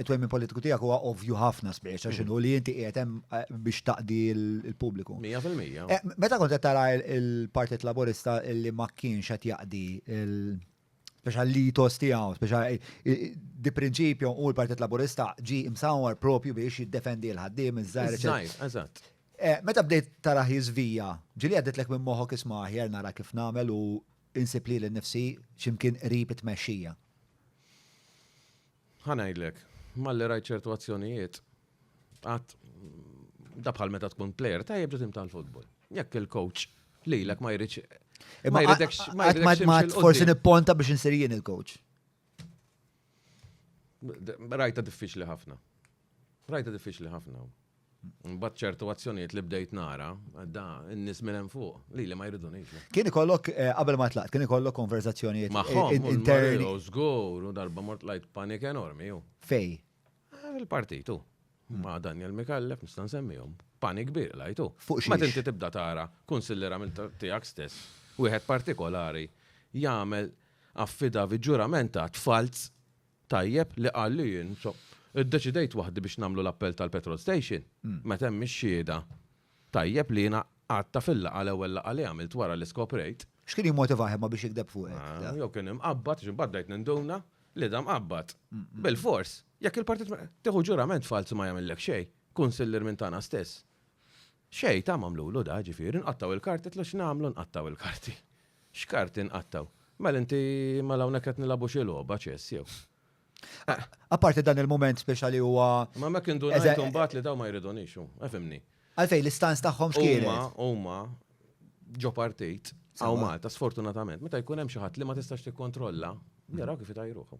it-twemmin politiku tiegħek huwa ovvju ħafna spiex għax inhu li inti qiegħed hemm eh, biex taqdi l-pubbliku. 100%. Eh, meta kont qed tara il-Partit Laburista li ma kienx qed jaqdi l- speċa l-litos tiegħu, speċa eh, eh, di prinċipju u l-Partit Laburista ġi imsawar propju biex jiddefendi l-ħaddiem iż-żgħar. eċetera. Żgħir, eżatt. Eh, Meta bdejt tara jizvija, ġili għadditlek minn moħok isma aħjar nara kif namel u insib li l-nifsi ximkien qrib it-mexxija. Ħa ngħidlek, malli rajt ċertu azzjonijiet, għat da bħal meta tkun player tajjeb ġutim tal-futbol. Jekk il-coach li l ma jridx. Ma jridx. Ma jridx. Forsi nipponta biex insir jien il-coach. Rajta diffiċli ħafna. Rajtha diffiċli ħafna. Mbagħad ċertu azzjonijiet li bdejt nara, da n-nies minn hemm fuq, li li ma jridunix. Kien ikollok eh, qabel ma tlaqt, kien ikollok konverzazzjonijiet magħhom eh, interni. Żgur, u darba mort lajt panik enormi ju. Fej? Eh, il-partitu. Hmm. Ma' Daniel Mikallef nista' nsemmihom. Panik kbir lajtu. Fuq xi. Ma tinti tibda tara kunsilliera minn tiegħek stess, wieħed partikolari jagħmel affidavi ġuramentat falz Tajjeb li qal li jien, so, iddeċidejt waħdi biex nagħmlu l-appell tal-petrol station, meta hemm ix-xhieda. Tajjeb li jiena għadta fil-laqgħa l-ewwel laqgħa li għamilt wara li skoprejt. X'kien jimmotivah imma biex jigdeb fuqek? Ah, jew kien imqabbad, għax imbagħad bdejt ninduna li da mqabbad. Bilfors, jekk il-partit tieħu ġurament falz ma jagħmillek xejn, kunsillier minn tagħna stess. Xejn, ta' m'għamlulu da, ġifieri, nqattgħu l-karti, qedtlu x'nagħmlu nqattgħu l-karti? X'karti nqattgħu? Mela inti, mela hawnhekk qed nilagħbu xi logħba, ċess jew? Apparti dan il-mument speċjali huwa. Ma hemmhekk indunajt imbagħad li dawn ma jridunix, hu, efhimni. Għalfejn l-istanz tagħhom x'kienet? Huma, huma ġo partit hawn Malta sfortunatament meta jkun hemm xi ħadd li ma tistax tikkontrolla, jaraw kif itajruh.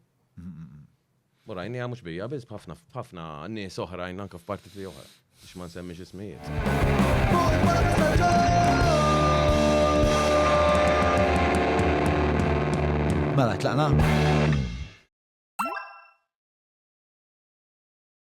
U rajniha mhux bija biss b'ħafna b'ħafna nies oħrajn anke f'partiti oħra biex ma nsemmix ismijiet. Mela tlaqna.